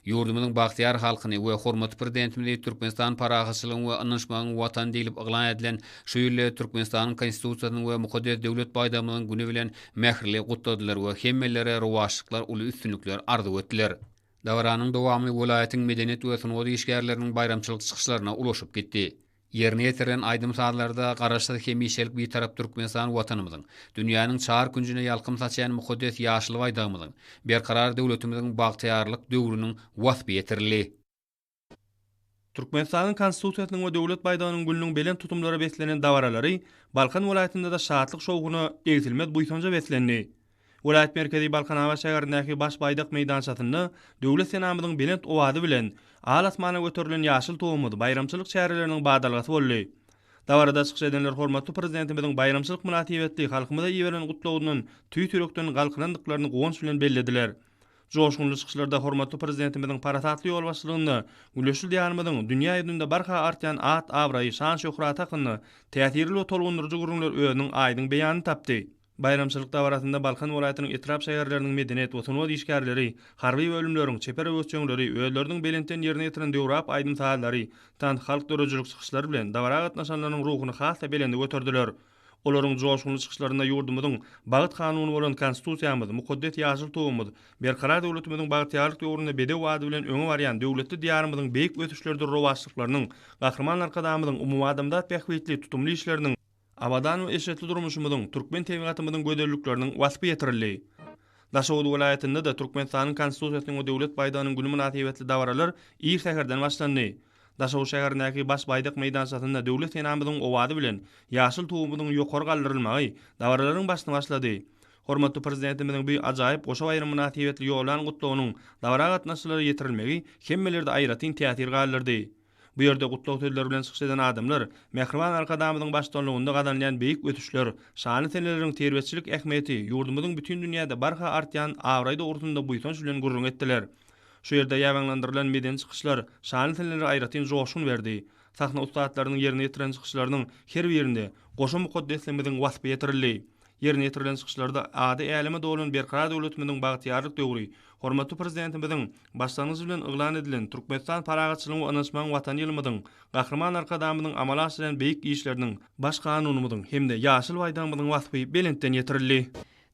Ýurdumyzyň bagtyýar halkyny we hormatly Prezidentimizi Türkmenistan parahatçylygyň we ynanyşmagyň Watany diýlip yglan edilen şu ýyly Türkmenistanyň Konstitusiýasynyň we mukaddes Döwlet baýdagymyzyň güni bilen mähirli gutladylar we hemmelere rowaçlyklar, uly üstünlikler arzuw etdiler. Dabaranyň dowamy welaýatyň medeniýet we sungat işgärleriniň baýramçylyk çykyşlaryna ulaşyp gitdi. Ýerine ýetirilen aýdym-sazlarda Garaşsyz, hemişelik Bitarap Türkmenistan Watanymyzyň, dünýäniň çar künjüne ýalkym saçýan mukaddes ýaşyl Baýdagymyzyň, berkarar döwletimiziň bagtyýarlyk döwrüniň waspy ýetirildi. Türkmenistanyň Konstitusiýasynyň we Döwlet baýdagynyň gülüniň belent tutumlara beslenen dabaralary Balkan welaýatynda-da şatlyk-şowhuna, egsilmez buýsanja beslendi. Welaýat merkezi Balkanabat şäherindäki Baş Baýdak meýdançasynda Döwlet senamyzyň belent owazy bilen al asmana göterilen ýaşyl Tugumyz baýramçylyk çäreleriniň badalgasy boldy. Dabarada çykyş edenler hormatly Prezidentimiziň baýramçylyk mynasybetli halkymyza iberen gutlagyndan tüýs ýürekden galkynandyklaryny guwanç bilen bellediler. Joşgunly çykyşlarda hormatly Prezidentimiziň parasatly ýolbaşçylygynda Güneşli Diýarymyzyň dünýä ýüzünde barha artýan at-abraýy, şan-şöhraty hakynda täsirli we tolgundyryjy gürrüňler özüniň aýdyň beýanyny tapdy. Baýramçylyk dabarasynda Balkan welaýatynyň etrap-şäherleriniň medeniýet we sungat işgärleri, harby bölümleriň, çeper öwüşjeňleri özleriniň belentden ýerine ýetiren döwrap aýdym-sazlary, tans, halk döredijilik çykyşlary bilen dabara gatnaşanlarynyň ruhuny has-da belende göterdiler. Olaryň joşgunly çykyşlarynda ýurdumyzyň Bagt kanuny bolan Konstitusiýamyz, mukaddes ýaşyl Tugumyz, Berkarar döwletimiziň bagtyýarlyk döwründe bedew ady bilen öňe barýan döwletli Diýarymyzyň beýik ösüşleridir rowaçlyklarynyň, Gahryman Arkadagymyzyň umumadamzat bähbitli tutumly işleriniň, Abadan we eşretli durmuşymyzyň, türkmen tebigatymyzyň gözellikleriniň waspy ýetirildi. Daşoguz welaýatynda-da Türkmenistanyň Konstitusiýasynyň we Döwlet baýdagynyň güni mynasybetli dabaralar ir säherden başlandy. Daşoguz şäherindäki Baş baýdak meýdançasynda Döwlet senamyzyň owazy bilen ýaşyl Tugumyzyň ýokary galdyrylmagy dabaralaryň başyny başlady. Hormatly Prezidentimiziň bu ajaýyp goşa baýram mynasybetli ýollan Gutlagynyň dabara gatnaşyjylara ýetirilmegi hemmelerde aýratyn täsir galdyrdy. Bu ýerde gutlag sözleri bilen çykyş eden adamlar Mähriban Arkadagymyzyň baştutanlygynda gazanylýan beýik ösüşler, şanly seneleriň terbiýeçilik ähmiýeti, ýurdumyzyň bütin dünýäde barha artýan abraýy dogrusynda buýsanç bilen gürrüň etdiler. Şu ýerde ýaýbaňlandyrylan medeni çykyşlar şanly senelere aýratyn joşgun berdi. Sahna ussatlarynyň ýerine ýetiren çykyşlarynyň her birinde goşa mukaddesligimiziň waspy ýetirildi. Ýerine ýetirilen çykyşlarda ady äleme dolan Berkarar döwletimiziň bagtyýarlyk döwri, hormatly Prezidentimiziň başlangyjy bilen yglan edilen Türkmenistan parahatçylygyň we ynanyşmagyň Watany ýylymyzyň, Gahryman Arkadagymyzyň amala aşyrýan beýik işleriniň, Baş Kanunymyzyň hem-de Ýaşyl Baýdagymyzyň waspy belentden ýetirildi.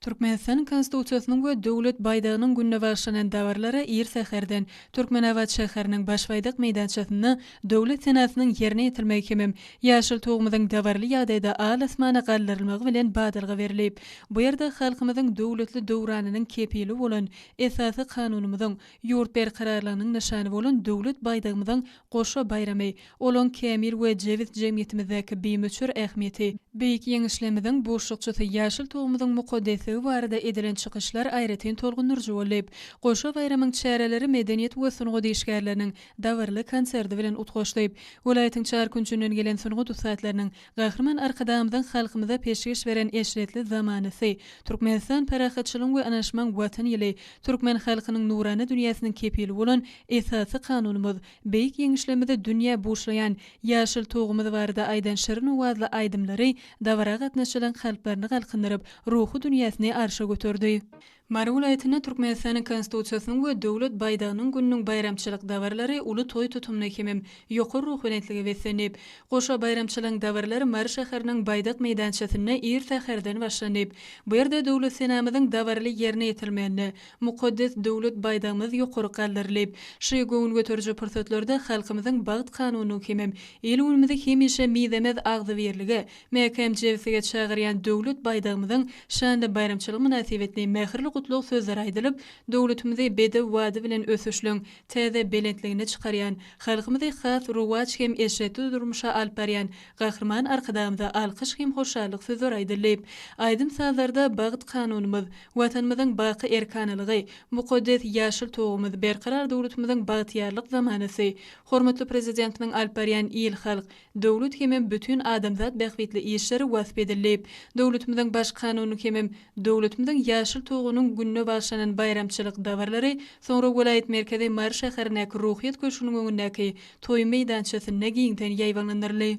Türkmenistanyň Konstitusiýasynyň we Döwlet baýdagynyň gününe bagyşlanan dabaralara ir säherden Türkmenabat şäheriniň Başbaýdak meýdançasynda Döwlet senasynyň ýerine ýetirmegi hemem Ýaşyl tugumyzyň dabaraly ýagdaýda al-asmana galdyrylmagy bilen badalga berlip, bu ýerde halkymyzyň döwletli döwranynyň kepili bolan Esasy Kanunymyzyň, ýurt berkararlygynyň nyşany bolan Döwlet baýdagymyzyň goşa baýramy, olaň kämil we jebis jemgyýetimizdäki bimöçber ähmiýeti, Beýik Ýeňişlerimiziň buşlukçysy Ýaşyl tugumyzyň mukaddesligi barada edilen çykyşlar aýratyn tolgundyryjy boldy. Goşa baýramyň çäreleri medeniýet we sungat işgärleriniň, dabaraly konserti bilen utgaşdyp, welaýatyň çar künjünden gelen sungat ussatlarynyň Gahryman Arkadagymyzyň halkymyza peşgeş beren eşretli zamanasy, Türkmenistan parahatçylygyň we ynaşmaň Watan ýyly, türkmen halkynyň nurana dünýäsiniň kepili bolan Esasy Kanunymyz, beýik Ýeňişlerimizi dünýä buşlaýan ýaşyl Tugumyz barada aýdan şirin owazly aýdymlary dabara gatnaşyjylaryň kalplaryny galkyndyryp, ruhy dünýäsini arşa göterdi. Mary welaýatynda Türkmenistanyň Konstitusiýasynyň we Döwlet baýdagynyň gününiň baýramçylyk dabaralary uly toý tutumly hemem ýokary ruhubelentlige beslendi. Goşa baýramçylygyň dabaralary Mary şäheriniň Baýdak meýdançasynda ir säherden başlandy. Bu ýerde Döwlet senamyzyň dabaraly ýerine ýetirilmeginde mukaddes Döwlet baýdagymyz ýokaryk galdyryldy. Ş göwün göteriji pursatlarda halkymyzyň bagt kanunynyň hemem il-günümizi hemişe mizemez agzybirlige, Mäkäm jebislige çagyrýan Döwlet baýdagymyzyň şanly baýramçylygy mynasybetli mähirli gutlag sözleri aýdylyp, döwletimizi bedew bady bilen ösüşligiň täze belentligine çykarýan, halkymyzy has rowaç hem eşretli durmuşa alyp barýan Gahryman Arkadagymyza alkyş hem hoşallyk sözleri aýdyldy. Aýdym-sazlarda Bagt Kanunymyz, Watanymyzyň baky erkanalygy, Mukaddes ýaşyl togumyz, Berkarar döwletimiziň bagtyýarlyk zamanasy, hormatly Prezidentimiziň alyp barýan il-halk, Döwlet hemem bütin adamzat bähbitli işleri wasp edildi. Döwletimiziň Baş Kanunynyň hemem döwletimiziň Ýaşyl Tugunyň gününe bagyşlanan baýramçylyk dabaralary soňra welaýat merkezi Mary şäherindäki Ruhyýet köşgüniň öňündäki toý meýdançasynda giňden ýaýbaňlandyryldy.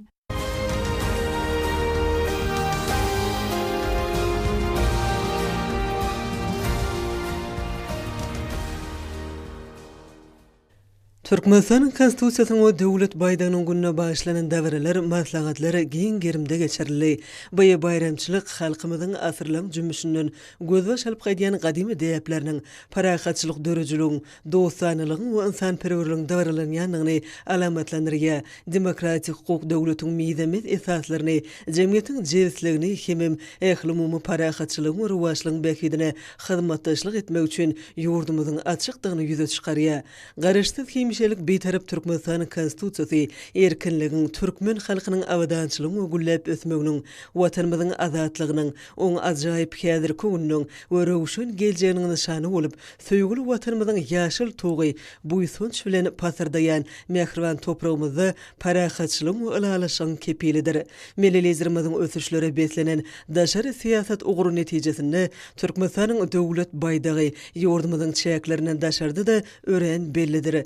Türkmenistanyň Konstitusiýasynyň we Döwlet baýdagynyň gününe bagyşlanan dabaralar, maslahatlar giň gerimde geçirildi. Bu baýramçylyk halkymyzyň asyrlaň jümmüşinden gözbaş alyp gaýdýan gadymy däpleriniň, parahatçylyk dörüjiligiň, dostanalygyň we ynsanperwerligiň dabaralanýandygyny alamatlandyrýar, demokratik hukuk döwletiň mizemez esaslaryny, jemgyýetiň jebisligini hemem ählumumy parahatçylygyň we rowaçlygyň bähbidine hyzmatdaşlyk etmek üçin ýurdumyzyň açykdygyny ýüze çykarýar. Garaşsyz hemişelik Bitarap Türkmenistanyň Konstitusiýasy erkinligiň, türkmen halkynyň abadançylygyň we gülläp ösmeginiň, Watanymyzyň azatlygynyň, oň ajaýyp häzirki gününiň we röwşen geljeginiň nyşany bolup, söýgüli Watanymyzyň ýaşyl tugy buýsanç bilen pasyrdaýan mähriban topragymyzda parahatçylygyň we ylalaşygyň kepilidir. Milli Liderimiziň ösüşlere beslenen daşary syýasat ugry netijesinde, Türkmenistanyň Döwlet baýdagy ýurdumyzyň çäklerinden daşarda-da örän bellidir.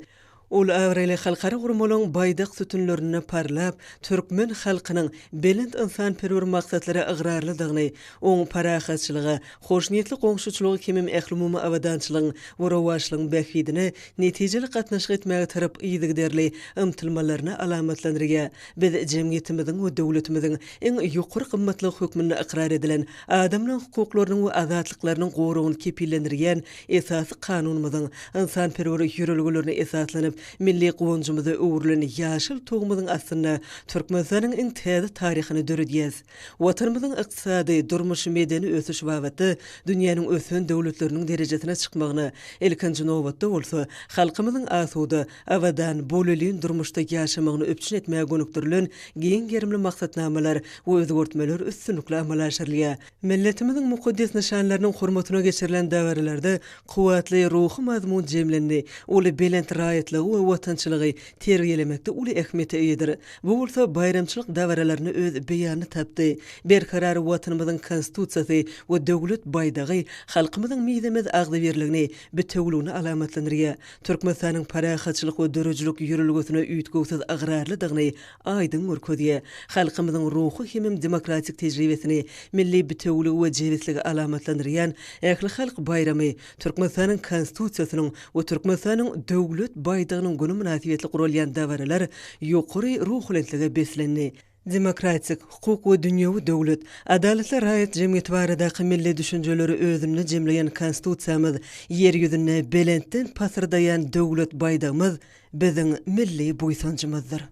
Ol abraýly halkara guramalyň baýdak sütünlerinde parlap, türkmen halkynyň belent ynsanperwer maksatlara ygrarlydygyny, oň parahatçylyga, hoşniýetli goňşuçylyga kimim ählumumy abadançylygyň we rowaçlygyň bähbidine netijeli gatnaşyk etmäge tarap yzygiderli ymtylmalaryny alamatlandyrýar. Biz jemgyýetimiziň we döwletimiziň iň ýokary gymmatlygy hökmünde ykrar edilen Adamlaryň hukuklarynyň we azatlyklarynyň goragyny kepillendirýän Esasy Kanunymyzyň, ynsanperwer ýörelgelerine esaslanyp, milli guwanjymyza öwrülen ýaşyl Tugumyzyň astynda Türkmenistanyň iň täze taryhyny döredýäs. Watanymyzyň ykdysady, durmuş-medeni ösüşi babatda dünýäniň ösen döwletleriniň derejesine çykmagyna, ilkinji nobatda bolsa, halkymyzyň asuda, Abadan, bolelin durmuşda ýaşamagyny üpjün etmäge gönükdirilen giň gerimli maksatnamalar we özgertmeler üstünlikli amala aşyrylýar. Milletimiziň mukaddes nyşanlarynyň hormatyna geçirilen dabaralarda kuwwatly ruhy mazmun jemlendi, uly belent raýatlygy we watançylygy terbiýelemekde uly ähmiýete eýedir. Bu bolsa baýramçylyk dabaralarynda öz beýanyny tapdy. Berkarar Watanymyzyň Konstitusiýasy we Döwlet baýdagy halkymyzyň mizemez agzybirligini, bitewüligini alamatlandyrýar. Türkmenistanyň parahatçylyk we döredijilik ýörelgesine üýtgewsiz ygrarlydygyny aýdyň görkezýär. Halkymyzyň ruhy hemem demokratik tejribesini, milli bitewüligi we jebisligi alamatlandyrýan ählihalk baýramy, Türkmenistanyň Konstitusiýasynyň we Türkmenistanyň Döwlet baýdagynyň güni mynasybetli guralýan dabaralar ýokary ruhubelentlige beslendi. demokratik, hukuk we dünýewi döwlet, adalatly raýat jemgyýeti baradaky milli düşünjeleri özünde jemleýän Konstitusiýamyz, Ýer ýüzünde belentden pasyrdaýan Döwlet baýdagymyz biziň milli buýsanjymyzdyr.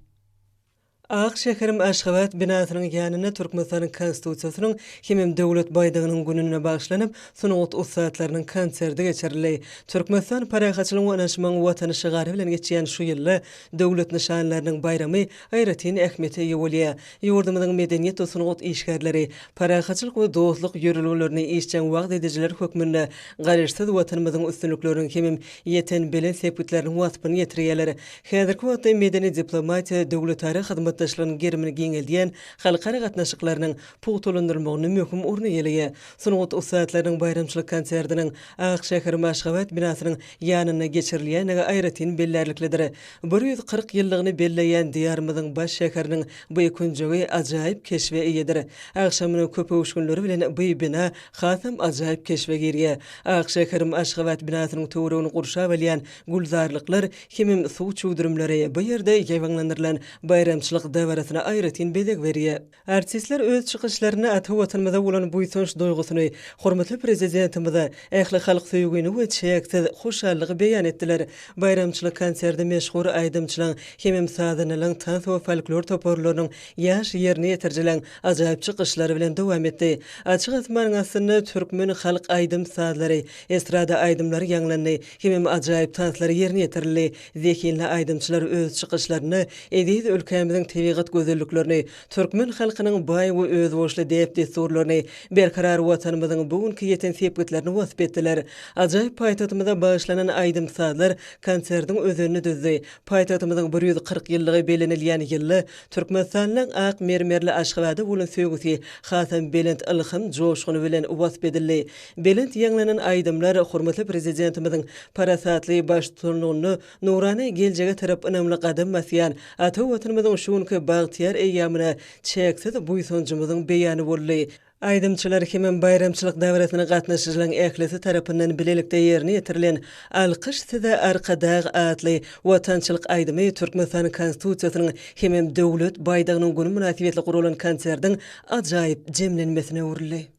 Ak şäherim Aşgabat binasynyň ýanynda Türkmenistanyň Konstitusiýasynyň hemem Döwlet baýdagynyň gününe bagyşlanyp, sungat ussatlarynyň konserti geçirildi. Türkmenistan parahatçylygyň we ynanyşmagyň Watany şygary bilen geçýän şu ýylda Döwlet nyşanlarynyň baýramy aýratyn ähmiýete eýe bolýar. Ýurdumyzyň medeniýet we sungat işgärleri, parahatçylyk we dostluk ýörelgelerini işjeň wagyz edijiler hökmünde Garaşsyz Watanymyzyň üstünlikleriniň hemem ýeten belent sepgitleriniň waspyny ýetirýärler. Häzirki wagtda medeni diplomatiýa döwletara hyzmatdaşlygynyň gerimini giňeldýän halkara gatnaşyklarynyň pugtalandyrylmagynda möhüm orun eýeleýär. Sungat ussatlarynyň baýramçylyk konsertiniň Ak şäher Maşgabat binasynyň ýanynda geçirilýändigi aýratyn bellärliklidir. Bir ýüz kyrk ýyllygyny belleýän Diýarymyzyň baş şäheriniň by künjegi ajaýyp keşbe eýedir. Agşamynyň köpöwüşginleri bilen by bina hasam ajaýyp keşbe girýär. Ak şäherim Aşgabat binasynyň töweregini gurşap alýan gülzarlyklar hemem suw çüwdürimleri bu ýerde ýaýbaňlandyrylan baýramçylyk dabarasyna aýratyn bezeg berýär. Artistler öz çykyşlarynda ata Watanymyza bolan buýsanç duýgusyny, hormatly Prezidentimize ähli halk söýgini we çäksiz hoşallygy beýan etdiler. Baýramçylyk konserde meşhur aýdymçylaň hemem sazandalaň, tans we folklor toparlarynyň ýaş ýerine ýetirijileň ajaýyp çykyşlary bilen dowam etdi. Açyk asmanyň astynda türkmen halk aýdym-sazlary, estrada aýdymlary ýaňlandy hemem ajaýyp tanslar ýerine ýetirildi. Zehinli aýdymçylar öz çykyşlarynda eziz ülkämiziň tebigat gözelliklerini, türkmen halkynyň baý we özboluşly däp-dessurlaryny, berkarar Watanymyzyň bu günki ýeten sepgitlerini wasp etdiler. Ajaýyp paýtagtymyza bagyşlanan aýdym-sazlar konsertiň özenini düzdi. Paýtagtymyzyň bir ýüz kyrk ýyllygy bellenilýän ýylda Türkmenistanlyň ak mermerli Aşgabada bolan söýgüsi hasam belent ylham joşguny bilen wasp edildi. Belent ýaňlanan aýdymlar hormatly Prezidentimiziň parasatly baştutanlygynda nurana geljege tarap ynamly gadam basýan ata Watanymyzyň şu günki bagtyýar eýýamyna çäksiz buýsanjymyzyň beýany boldy. Aýdymçylar hemem baýramçylyk dabarasyna gatnaşyjylaň ählisi tarapyndan bilelikde ýerine ýetirilen Alkyş size Arkadag! atly watançylyk aýdymy Türkmenistan Konstitusiýasynyň hemem Döwlet baýdagynyň güni mynasybetli guralan konserdiň ajaýyp jemlenmesine öwrüldi.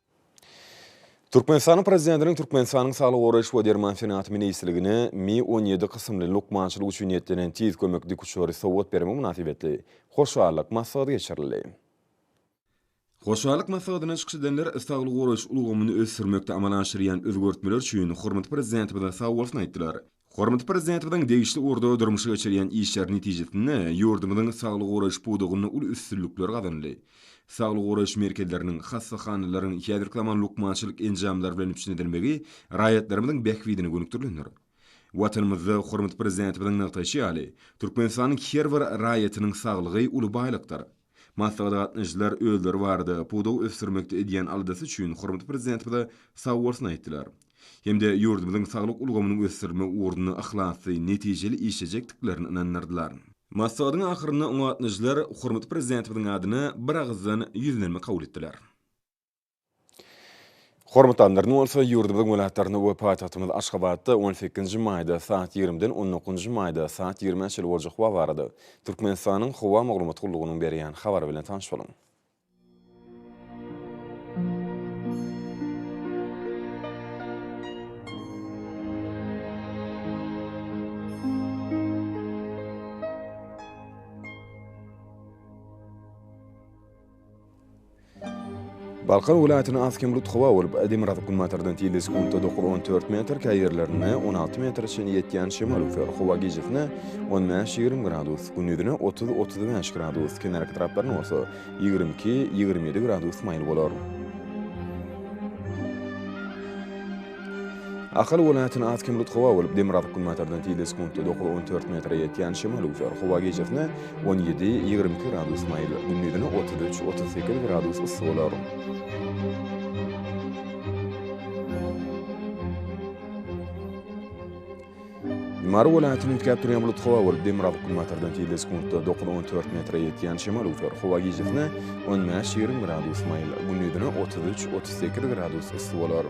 Türkmenistanyň Prezidentiniň Türkmenistanyň Saglygy goraýyş we derman senagaty ministrligine Mi on ýedi kysymly lukmançylyk üçin niýetlenen tiz kömek dikuçary sowgat bermegi mynasybetli hoşallyk maslahaty geçirildi. Hoşallyk maslahatynda çykyş edenler saglygy goraýyş ulgamyny ösdürmekde amala aşyrýan özgertmeler üçin hormatly Prezidentimize sagbolsun aýtdylar. Hormatly Prezidentimiziň degişli ugurda durmuşa geçirýän işleri netijesinde ýurdumyzyň saglygy goraýyş pudagynda uly üstünlikler gazanyldy. Saglygy goraýyş merkezleriniň, hassahanalaryň häzirki zaman lukmançylyk enjamlary bilen üpjün edilmegi raýatlarymyzyň bähbidine gönükdirilendir. Watanymyzda hormatly Prezidentimiziň nygtaýşy ýaly, Türkmenistanyň her bir raýatynyň saglygy uly baýlykdyr. Maslahata gatnaşyjylar özleri barada, pudagy ösdürmekde edýän aladasy üçin hormatly Prezidentimize sag bolsun aýtdylar. Hem-de ýurdumyzyň saglyk ulgamynyň ösdürilmegi ugrunda yhlasly, netijeli işlejekdiklerine ynandyrdylar. Maslahatyň ahyrynda oňa gatnaşyjylar hormatly Prezidentimiziň adyna biragyzdan ýüzlenme kabul etdiler. Hormatly Annaryny bolsa ýurdumyzyň welaýatlarynda we paýtagtymyz Aşgabatda on sekizinji maýda saat ýigrimiden on dokuzynjy maýda saat ýigrimä çenli boljak wagt barada Türkmenistanyň Howa maglumat gullugynyň berýän habary bilen tanyş boluň. Balkan welaýatyna has hemrut howa bolup, demirgazyk günbatardan tizligi sekuntda dokuz, on dört metr, käý ýerlerinde on alty metre çenli ýetýän şemal üflär. Howa gijesine on bäş, ýigrimi gradus, gündizine otuz, otuz bäş gradus, kenarki taraplaryna bolsa ýigrimi iki, ýigrimi ýedi gradus maýyl bolar. Ahal welaýatyna az kem rut howa bolup, demir azyk günbatardan tizde sekuntda dokuz, on dört metre ýetýän şemal üwser. Howa gijesine on ýedi, ýigrimi iki gradus maýyl, gündizine otuz üç, otuz sekiz gradus yssy bolar. Mary welaýatyny üýtgäp durýan bulut howa bolup, demirgazyk günbatardan tizligi sekuntda dokuz, on dört metre ýetýän şemal üwser. Howa gijesine on bäş, ýigrimi gradus maýyl, gündizine otuz üç, otuz sekiz gradus yssy bolar.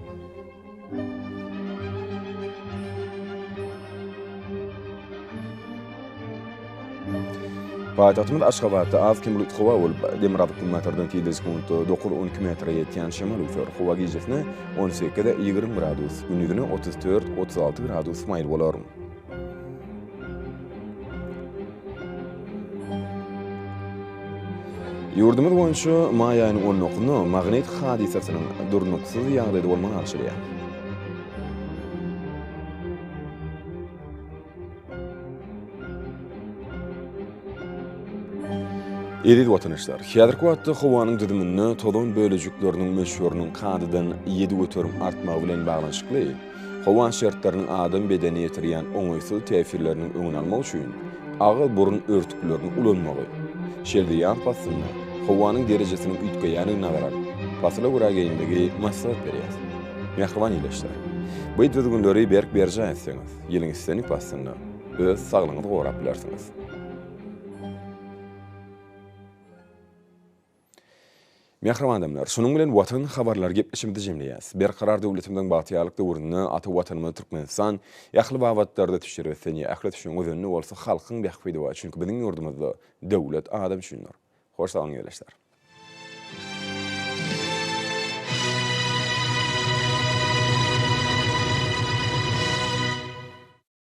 Paýtagtymyz Aşgabatda az-kem bulut howa bolup, demirgazyk günbatardan tilde sekuntda dokuz, on iki metre ýetýän şemal öwser. Howa gijesine on sekiz, ýigrimi gradus, gündizine otuz dört, otuz alty gradus maýyl bolar. Ýurdumyz boýunça maý aýynyň on dokuny magnit hadysasynyň durnuksyz ýagdaýda bolmagyny agşalýar. Eziz watandaşlar, häzirki wagtda howanyň düzüminde tozan bölejikleriniň möçberiniň kadadan ýedi göterim artmagy bilen baglanyşykly, Howa şertleriniň adam bedenine ýetirýän oňaýsyz täsirleriniň öňüni almak üçin agyz-burun örtüklerini ulanmagy, şelde ýaz paslynda howanyň derejesiniň üýtgeýändigine garap, pasyla görä geýinmegi maslahat berýäs. Mähriban ildeşler! Bu düzgünleri berk berjaý etseňiz, ýylyň islendik paslynda öz saglygyňyzy gorap bilersiňiz. Mähriban adamlar! Şunuň bilen Watan habarlary gepleşigimizi jemleýäs. Berkarar döwletimiziň bagtyýarlyk döwründe ata Watanymyz Türkmenistan ähli babatlarda tüçjar ösýän, ähli ösüşiň özeni bolsa halkyň bähbidi bar, çünki biziň ýurdumyzda döwlet adam üçindir. Hoş saglyň ýerleşsär.